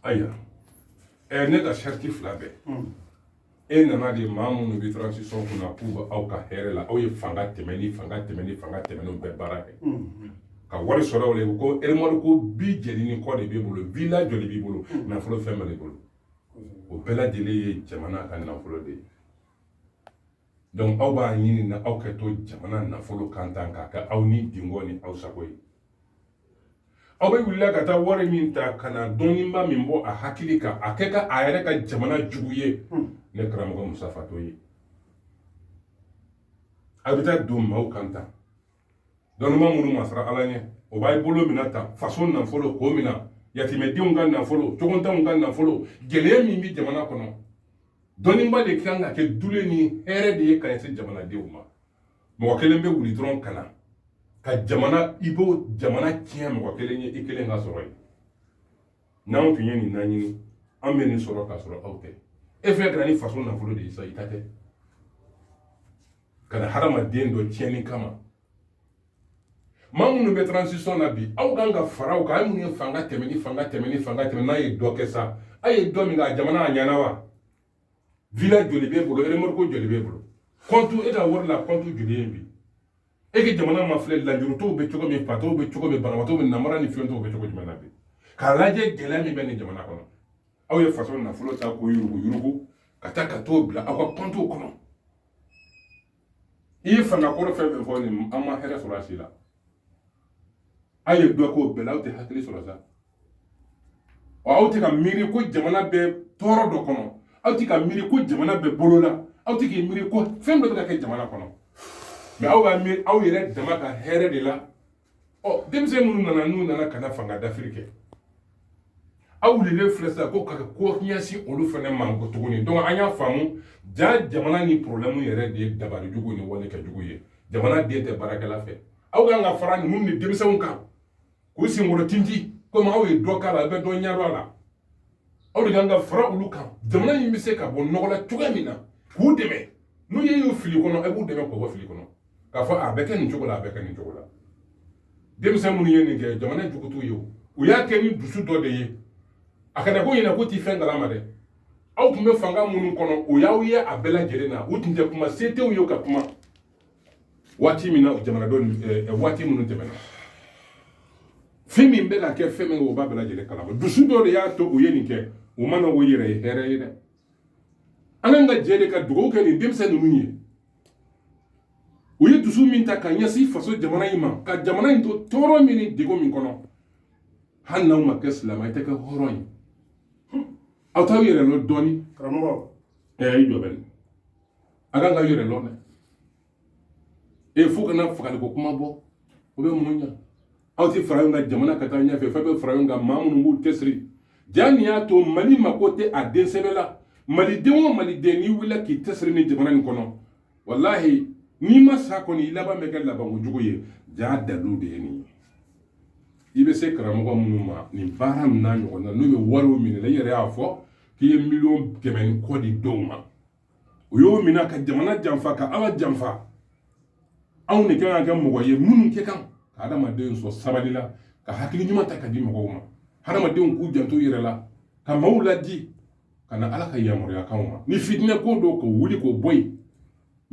ayiwa ɛ ne ka sariti fila bɛɛ e nana de maa minnu bɛ transition kun na k'u bɛ aw ka hɛrɛ la aw ye fanga tɛmɛnen fanga tɛmɛnen fanga tɛmɛnenw bɛɛ baara kɛ ka wari sɔrɔ o la u ko remorque bi jɛni ni kɔ de b'i bolo villa joli b'i bolo nafolo fɛn bɛɛ de bolo o bɛɛ lajɛlen ye jamana ka nafolo de ye Donc aw b'a ɲini na aw kɛ to jamana nafolo kan tan k'a kɛ aw nidungɔ ni aw sago ye aw bɛ wulila ka taa wari min ta ka na dɔnniba min bɔ a hakili kan a kɛ ka a yɛrɛ ka jamana jugu ye hmm. ne karamɔgɔ musa fatɔ ye a bɛ taa don maaw kan tan dɔnniba minnu ma siran ala ɲɛ o b'a bolo mina ta faso nafolo k'o mina yatimɛdenw ka nafolo cogontanw ka nafolo gɛlɛya min bɛ jamana kɔnɔ dɔnniba de kan ka kɛ dulen ni hɛrɛ de ye ka ɲɛsin jamanadenw ma mɔgɔ kelen bɛ wuli dɔrɔn ka na ka jamana i b'o jamana tiɲɛ mɔgɔ kelen ye i kelen ka sɔrɔ ye n'anw tun ye nin ɲini an bɛ nin sɔrɔ ka sɔrɔ aw tɛ e fɛn kɛra ni faso nafolo de ye sa i ta tɛ ka na hadamaden dɔ tiɲɛni kama maa minnu bɛ transition na bi aw kan ka fara u kan aw minnu ye fanga tɛmɛnen fanga tɛmɛnen fanga tɛmɛ n'a ye dɔ kɛ sa a ye dɔ min k'a jamana a ɲɛna wa villa joli b'e bolo remorque joli b'e bolo kɔntu e ka wari la kɔntu joli ye bi e ka jamana mafilɛ lujuratɔw bɛ cogo min fatɔw bɛ cogo min banabaatɔw bɛ namara ni fiyentɔw bɛ cogo jumɛn na bi k'a lajɛ gɛlɛya min bɛ nin jamana kɔnɔ aw ye faso nafolo ta k'o yuruguyurugu ka taa ka t'o bila aw ka kɔntuw kɔnɔ i ye fanga kɔrɔ fɛn fɛn fɔ nin an ma hɛrɛ sɔrɔ a si la aw ye dɔ k'o bɛɛ la aw tɛ hakili sɔrɔ sa wa aw tɛ ka miiri ko jamana bɛ tɔɔrɔ dɔ kɔnɔ aw tɛ ka miiri ko jamana bɛ bolo la aw tɛ k'i miiri ko fɛn dɔ bɛ ka kɛ jamana kɔnɔ mɛ aw b'a miiri aw yɛrɛ dama ka hɛrɛ de la ɔ denmisɛn minnu nana n'u nana ka na fanga dafiri kɛ aw wulilen filɛ sisan ko ka ko ɲɛsin olu fana ma ko tuguni donc an y'a faamu ja jamana nin problème yɛrɛ de ye dabali jugu ni wale kɛ jugu ye jamanaden tɛ baarakɛla fɛ aw kan ka fara ninnu ni denmisɛnw kan k'u senkɔrɔ tintin komi aw ye dɔ k'a la a bɛ dɔ ɲɛdɔn a la aw de kan ka fara olu kan jamana in bɛ se ka bɔ nɔgɔ la cogoya min na k'u dɛmɛ n'u ye y'u fili kɔnɔ a b'u dɛmɛ k'u bɔ fili kɔnɔ k'a fɔ a bɛ kɛ nin cogo la a bɛ kɛ nin cogo la denmisɛn minnu ye nin kɛ jamana jugu t'u ye o u y'a kɛ ni dusu dɔ de ye a kana k'aw ɲɛ na k'u tɛ fɛn kalama dɛ aw tun bɛ fanga minnu kɔnɔ u y'aw ye a bɛɛ lajɛlen na u tun tɛ kuma se t'u ye ka kuma waati min na jamanadenw eh, eh, waati minnu tɛmɛna fɛn min bɛ ka kɛ fɛn min o b'a bɛɛ lajɛlen kalama dusu dɔ de y'a to u ye nin kɛ u mana o yɛrɛ ye hɛrɛ ye dɛ an kan ka jɛ de ka dugawu kɛ nin denmisɛn ninnu ye u ye dusu min ta ka ɲɛsin faso jamana in ma ka jamana in to tɔɔrɔ min ni degun min kɔnɔ hali n'aw ma kɛ silamɛ i tɛ kɛ hɔrɔn ye aw t'aw yɛrɛ lɔn dɔɔni karamɔgɔ ɛɛ i jɔ bɛ nin a kan ka yɛrɛ lɔn dɛ e fo ka na fagali ko kuma bɔ o bɛ mun ɲa aw tɛ fara ɲɔgɔn kan jamana ka taa ɲɛfɛ fɛn bɛ fara ɲɔgɔn kan maa minnu b'u cɛsiri jaa nin y'a to mali mako tɛ a den sɛbɛ la maliden o maliden n'i wulila k'i cɛsiri ni jamana nin kɔnɔ walahi n'i ma sa kɔni i laban bɛ kɛ labanko jugu ye jaa dalilu de ye nin ye i bɛ se karamɔgɔ minnu ma nin baara ninnu n'a ɲɔgɔn na n'u bɛ wariw minɛ i yɛrɛ y'a fɔ k'i ye miliyɔn kɛmɛ ni kɔ di dɔw ma o y'o minɛ ka jamana janfa ka ala janfa anw de kan ka kɛ mɔgɔ ye minnu kɛ kan ka adamadenw sɔrɔ sabali la ka hakili ɲuman ta ka di mɔgɔw ma hadamadenw k'u janto yɛrɛ la ka maaw laadi ka na ala ka yamaruyakanw ma ni fitinɛ ko don k'o wuli k'o bɔ yen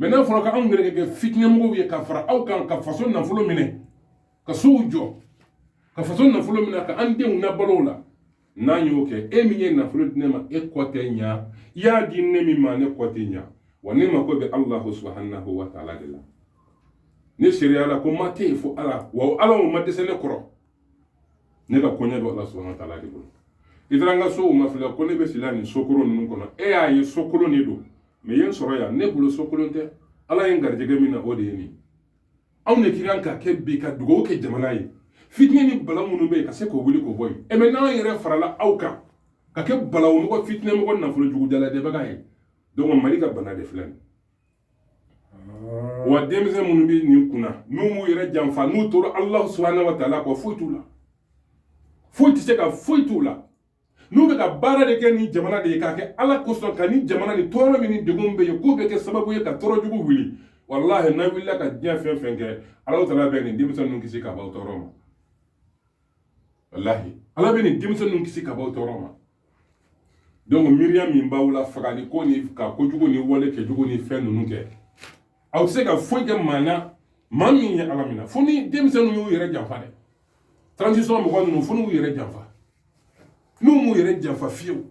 mɛ n'a fɔra ka anw yɛrɛ kɛ fitinɛmɔgɔw ye ka fara aw kan ka faso nafolo minɛ ka sow jɔ ka faso nafolo minɛ ka an denw nabalo a la n'an y'o kɛ e min ye nafolo di ne ma e kɔ tɛ ɲa i y'a di ne min ma ne kɔ tɛ ɲa wa ne mako bɛ alahu subahanahu wa taala de la ne seereyala ko ma tɛ yen fo ala wa ala o ma dɛsɛ ne kɔrɔ ne ka koɲɛ bɛ ala subahana wa taala de bolo i taara n ka so mafilɛ ko ne bɛ si la nin sokolon ninnu kɔnɔ e y'a ye sokolon de don mɛ ye n sɔrɔ yan ne bolo sokolon tɛ ala ye n garijɛgɛ min na o de ye nin anw de ka kan ka kɛ bi ka dugawu kɛ jamana ye fitinɛ ni balawu minnu bɛ yen ka se k'o wuli k'o bɔ yen mɛ n'an yɛrɛ farala aw kan ka kɛ balawumɔgɔ fitinɛmɔgɔ nafolo jugu dalajɛbaga ye donc mali ka bana de filɛ nin wa denmisɛn minnu bɛ nin kunna n'u m'u yɛrɛ janfa n'u tora alahu subahanahu wa taala kɔ foyi t'u la foyi tɛ se ka foyi t'u la n'u bɛ ka baara de kɛ nin jamana de ye k'a kɛ ala kosɔn ka nin jamana nin tɔɔrɔ min ni degun bɛ yen k'u bɛ kɛ sababu ye ka tɔɔrɔ jugu wuli walahi n'aw wulila ka diɲɛ fɛn fɛn kɛ ala taala bɛ nin denmisɛn ninnu kisi ka bɔ tɔɔrɔ ma walahi ala bɛ nin denmisɛn ninnu kisi ka bɔ tɔɔrɔ ma donc miiriya min b'aw la fagali ko ni ka kojugu ni wale kɛjugu ni fɛn ninnu kɛ aw tɛ se ka foyi kɛ maa na maa min ye ala mina fo ni denmisɛnninw y'u yɛrɛ janfa dɛ transition mɔgɔ ninnu fo n'u yɛrɛ janfa n'u m'u yɛrɛ janfa fiyewu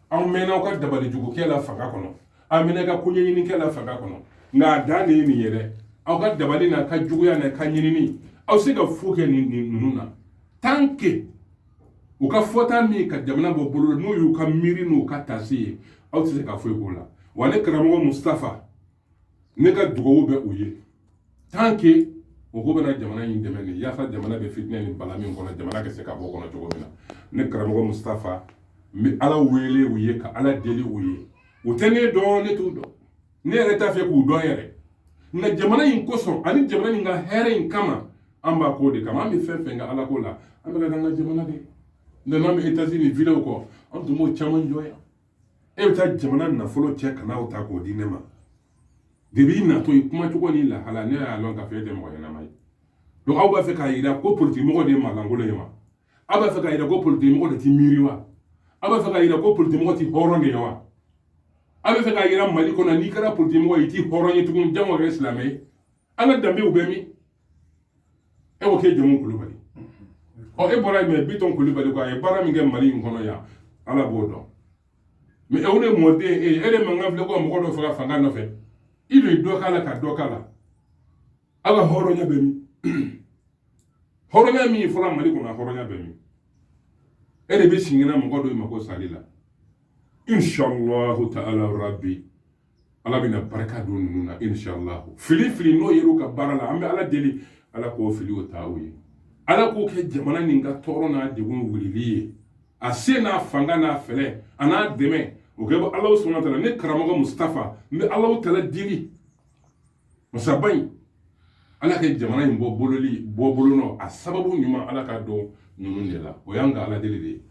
aw mɛnna aw ka dabalijugukɛ la fanga kɔnɔ a mɛnna ka koɲɛɲinikɛ la fanga kɔnɔ nka a dan de ye nin ye dɛ aw ka dabali n'a ka juguya n'a ka ɲinini aw se ka foyi kɛ nin ninnu na tant que u ka fɔta min ka jamana bɔ bolo n'o y'u ka miiri n'u ka taasi ye aw tɛ se ka foyi k'o la wa ne karamɔgɔ mustafa ne ka dugawu bɛ u ye tant que mɔgɔ bɛna jamana in dɛmɛ de yaasa jamana bɛ fitinɛ ni bala min kɔnɔ jamana ka se ka bɔ kɔnɔ cogo min na ne karamɔgɔ mustafa n bɛ ala wele u ye ka ala deli u ye u tɛ ne dɔn ne t'u dɔn ne yɛrɛ t'a fɛ k'u dɔn yɛrɛ nka jamana in kosɔn ani jamana in ka hɛrɛ in kama an b'a k'o de kama an bɛ fɛn fɛn kɛ ala ko la an bɛ k'a k'an ka jamana de nana an bɛ etazini videw kɔ an tun b'o caman jɔ yan e bɛ taa jamana nafolo cɛ ka n'aw ta k'o di ne ma depuis i natɔ i kumacogo n'i lahala ne y'a lɔn k'a fɔ e tɛ mɔgɔ ɲɛnama ye donc aw b'a fɛ k'a yira ko politikimɔgɔ de ye mankankolon ye wa aw b'a fɛ k'a yira ko politikimɔgɔ de ti miiri wa aw b'a fɛ k'a yira ko politikimɔgɔ ti hɔrɔn de ye wa aw b'a fɛ k'a yira mali kɔnɔ n'i kɛra politikimɔgɔ ye i ti hɔrɔn ye tugun jango kɛ silamɛ ye an ka danbew bɛ min e ko k'e jamu kulubali ɔ e bɔra yen mais bitɔn kulubali ko a ye baara min kɛ mali in kɔnɔ yan ala b'o dɔn mais e de mɔden e ye e de mankan filɛ ko ka mɔgɔ dɔ faga fanga nɔfɛ i de ye dɔ k'a la ka dɔ k'a la aw ka hɔrɔnya bɛ min hɔrɔnya min fɔra mali kɔnɔ a hɔrɔnya bɛ min e de bɛ sinkɛnɛ mɔgɔ dɔ ma ko sali la inshallahu ta'ala rabbi ala bɛna barika don ninnu na inshallah fili fili n'o yer'u ka baara la an bɛ ala deli ala k'o fili o ta u ye ala k'o kɛ jamana nin ka tɔɔrɔ n'a degun wulili ye a se n'a fanga n'a fɛɛrɛ an'a dɛmɛ o ka bɔ allahu subhana ta'ala ne karamɔgɔ mustafa n bɛ allahu ta'ala deli masaba in ala ka jamana in bɔ bololi bɔ bolo nɔ a sababu ɲuman ala k'a don ninnu de la o y'an ka ala deli de ye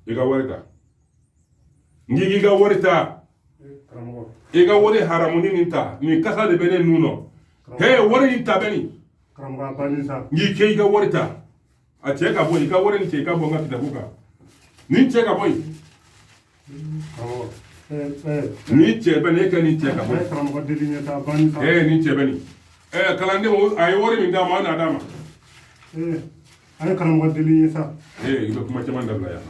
i ka wari ta n'i k'i ka wari ta i ka wari haramuni nin ta nin kasa de bɛ ne nun nɔ he wari nin ta bɛ nin n'i kɛ i ka wari ta a cɛ ka bɔ i ka wari nin cɛ i ka bɔ n ka kitabu kan nin cɛ ka bɔ yen nin cɛ bɛ ne kɛ nin cɛ ka bɔ yen ee nin cɛ bɛ nin ɛɛ kalanden a ye wari min d'a ma a n'a d'a ma A ye karamɔgɔ deli ye sa ee i bɛ kuma caman dabila yan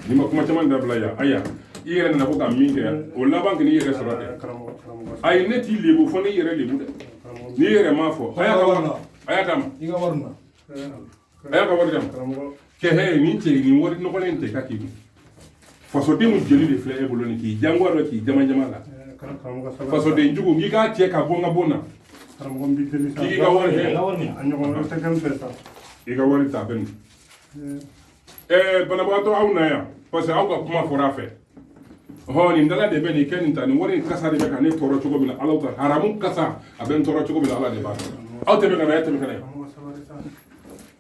n'i ma kuma caman dabila yan aya i yɛrɛ nana ko ka min kɛ o laban k'i yɛrɛ sɔrɔ dɛ a ye ne t'i lebu fo n'i y'i yɛrɛ lebu dɛ n'i yɛrɛ m'a fɔ a y'a ka wari a y'a d'a ma i ka wari na a y'a ka wari d'a ma kɛ hɛ nin cɛ nin wari nɔgɔlen tɛ ka k'i kun fasodenw jeli de filɛ e bolo nin k'i jangoya dɔ k'i jamajama la fasoden jugu n'i k'a cɛ ka bɔ n ka bon na karamɔgɔ n b'i deli sa k'i ka wari kɛ a ɲɔgɔn wɛrɛ tɛ kɛ n fɛ sa i ka wari ta a bɛ nin ɛɛ banabagatɔ aw na yan parce que aw ka kuma fɔra a fɛ hɔn nin dala de bɛ nin kɛ nin ta nin wari in kasa de bɛ ka ne tɔɔrɔ cogo min na ala ta haramu kasa a bɛ n tɔɔrɔ cogo min na ala de b'a dɔn aw tɛmɛ ka na e tɛmɛ ka na yan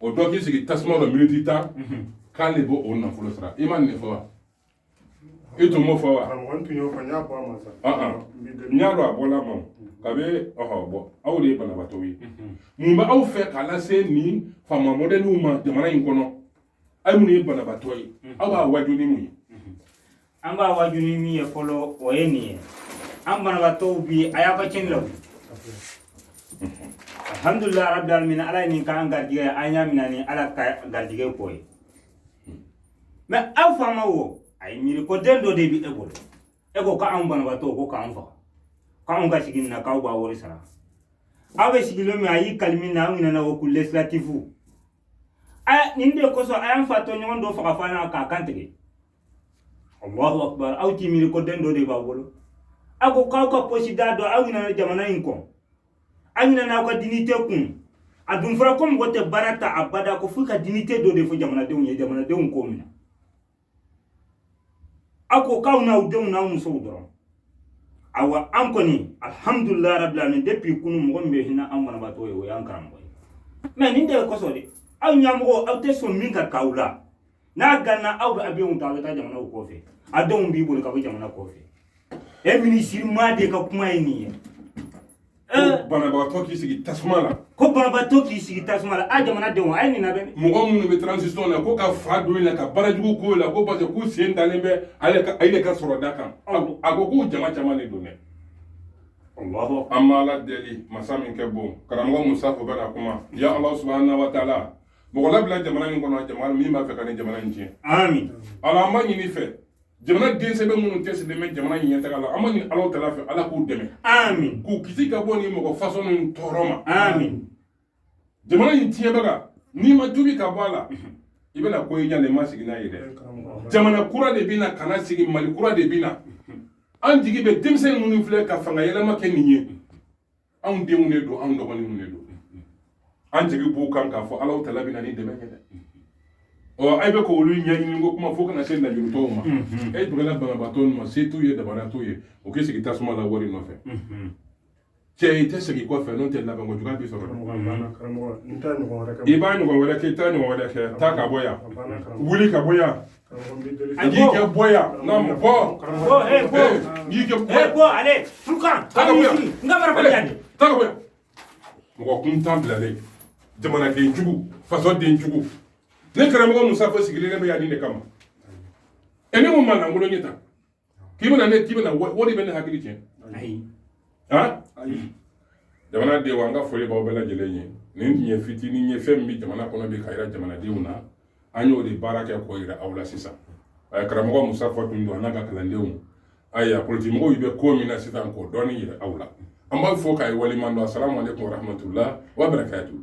o dɔ k'i sigi tasuma dɔ miniti tan k'an de b'o o nafolo sara i ma nin de fɔ wa i tun b'o fɔ wa n y'a dɔn a bɔla ma ka bɛ ɔhɔ bɔ aw de ye banabaatɔw ye mun bɛ aw fɛ k'a lase nin faama mɔdɛliw ma jamana in kɔnɔ aw minnu ye banabaatɔ ye aw b'a waaju ni mun ye an b'a waaju ni min ye fɔlɔ o ye nin ye an banabaatɔw bi a y'a ka cɛni la wuli alhamdulilayi rabi alamin ala ye nin k'an garijigɛ an y'a mina ni ala ka garijigɛ ko ye mɛ aw faamaw a ye miiri ko den dɔ de b'i bolo e ko ko anw banabaatɔw ko k'an faga ko anw ka sigi nin na k'aw b'a wari sara aw bɛ sigilen min a y'i kali min na an minɛna o ko lesilatifu a nin de kosɔn a y'an fa tɔɲɔgɔn dɔ faga fo an ɲɛ na k'a kan tigɛ allahu akbar aw ti miiri ko den dɔ de b'a bolo a ko k'aw ka posi d'a dɔ aw ɲinana jamana in kɔ aw ɲinana aw ka dinite kun a dun fɔra ko mɔgɔ tɛ baara ta abada ko fo ka dinite dɔ de fɔ jamanadenw ye jamanadenw k'o minɛ a ko k'aw n'aw denw n'aw musow dɔrɔn awa an kɔni alhamdulilayi rabi alamin depuis kunu mɔgɔ min bɛ hinɛ an banabaatɔ ye o y'an karamɔgɔ ye mɛ nin de ye kosɔn de aw ɲɛmɔgɔ aw tɛ sɔn min ka k'aw la n'a ganna aw bɛ avion ta aw bɛ taa jamana kɔfɛ a denw b'i bolo ka bɔ jamana kɔfɛ e minisiri maa de ka kuma ye nin ye banabagatɔ k'i sigi tasuma la ko banabagatɔ k'i sigi tasuma la a jamana denw a ye nin labɛn mɔgɔ minnu bɛ transition na ko ka fa don la ka baara jugu k'o la ko parce que k'u sen dalen bɛ ale ka ale ka sɔrɔ da kan a ko k'u jama caman de don dɛ an b'ala deli masa min ka bon karamɔgɔ musa ko bɛ na kuma ya ala subahana wa taala mɔgɔ labila jamana in kɔnɔ min b'a fɛ ka nin jamana in tiɲɛ ami ala an b'a ɲini i fɛ jamanaden sɛbɛ minnu cɛsirilen bɛ jamana in ɲɛtaga la an b'a ɲini allahu taala fɛ ala k'u dɛmɛ ami k'u kisi ka bɔ nin mɔgɔ fasɔn ninnu tɔɔrɔ ma ami jamana in tiɲɛbaga n'i ma tubi ka bɔ a la i bɛna ko y'i ɲa na i ma sigi n'a ye dɛ jamana kura de bɛ na ka na sigi mali kura de bɛ na an jigi bɛ denmisɛn minnu filɛ ka fanga yɛlɛma kɛ nin ye anw denw de don anw dɔgɔninw de don an jigi b'u kan k'a fɔ allahu taala bɛ na ni dɛmɛ ye dɛ ɔ ayi bɛ ka olu ɲɛɲini ko kuma fo ka na se lajurutɔw ma e dugala banabaatɔ ma se t'u ye dabara t'u ye o k'i sigi tasuma la wari nɔfɛ cɛ i tɛ segin kɔfɛ n'o tɛ labanko juguya b'i sɔrɔ i b'a ɲɔgɔn wɛrɛ kɛ i t'a ɲɔgɔn wɛrɛ kɛ taa ka bɔ yan wuli ka bɔ yan N'i kɛ bɔ yan n bɔ bɔ n'i kɛ bɔ bɔ ale furukan n ka bara yan ta mɔgɔ kuntan bilalen jamanadenjugu fasodenjugu ne karamɔgɔ musa ko sigilen ne bɛ yan nin de kama ɛ ne ko maa lankolon ye ta k'i bɛna ne k'i bɛna o de bɛ ne hakili cɛ ayi han ayi jamanadenw an ka foli b'aw bɛɛ lajɛlen ye nin tun ye fitinin ye fɛn min bɛ jamana kɔnɔ bi k'a jira jamanadenw na an y'o de baara kɛ k'o jira aw la sisan eh, karamɔgɔ musa fɔ tun don a n'a ka kalandenw ayiwa politikimɔgɔw bɛ ko min na sisan k'o dɔɔni jira aw la an b'aw fo k'aw waleɲumandɔn asalamu aleykum warahmatula wa barakatu